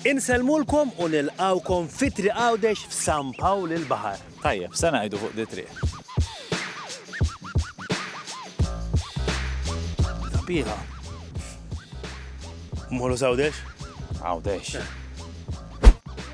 Insellmulkom u nilqgħukom fi Triq Għawdex f'San Pawl il-Baħar. Tajjeb, se ngħidu fuq dit-triq. Sabiħa. Mmorru s'Għawdex? Għawdex.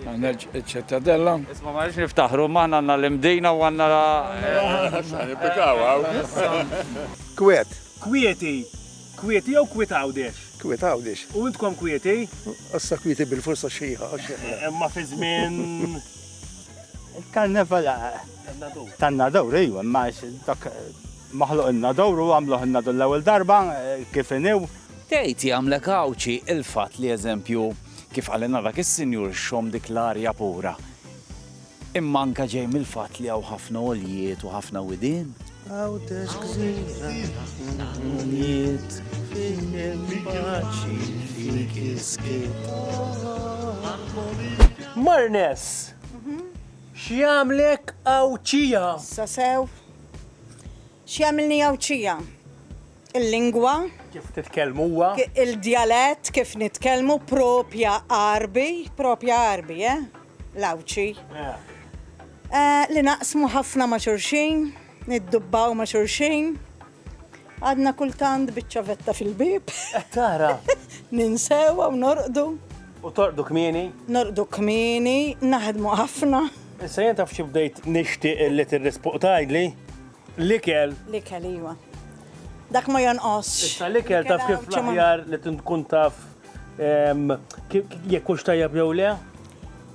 Nerġ ċittadella. Isma ma rridx niftaħru, maħna għanna l-imdina u għanna. Kwiet. Kwieti. Kwieti jew kwiet għawdex? Kwiet għawdex. U intkom kwieti? Issa kwieti bil-forsa xieħa. Imma fi żmien. Il-karneval. Tan-nadur, ejwa, ma dak maħluq il-nadur u għamluħ il-nadur l-ewwel darba kif inew. Tgħid jagħmlek Għawdxi il-fatt li eżempju, kif qalilna dak is-sinjur xxomm dik l-arja pura, imma anke ġej mill-fatt li hawn ħafna għoljiet u ħafna widien? Għawdex gżira ħafna għoljiet fejn hemm paċi fik is-skiet. Marnes, x'jagħmlek Għawdxija? Issa sew. X'jagħmilni Għawdxija? Il-lingwa. Kif titkellmuha. Il-djalett kif nitkellmu propja Għarbi, propja Għarbi, eh? L-Għawdxi. Li naqsmu ħafna ma' xulxin, niddubbaw ma' xulxin. Għadna kultant biċ-ċavetta fil-bieb. Qed tara? Ninsewha u norqdu. U torqdu kmieni? Norqdu kmieni, naħdmu ħafna. Issa jien taf xi bdejt nixtieq li tirrispoq tgħidli? L-ikel. L-ikel, iva. Dak ma jonqos. Issa l-ikel taf kif l-aħjar li tkun taf jekk hux tajjeb jew le?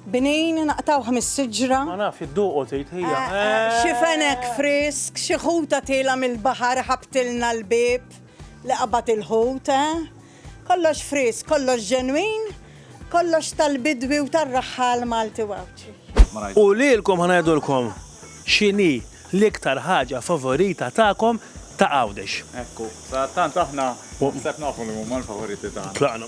Binin naqtaw ħmis siġra. Ma naf id-duqo tgħid hija. Eh, eh, eh. Xi fenek frisk, xi ħuta tilha mill-baħar ħabtilna l-bib li qabad il-ħut, Kollox frisk, kollox ġenwin, kollox tal-bidwi u tar-raħħal Malti u Għawdxi. U lilkom ħa ngħidulkom x'inhi l-iktar ħaġa favorita tagħkom ta' Għawdex. Ekku, sadattant aħna naħseb nafu li huma l-favoriti tagħna. Tlaqna.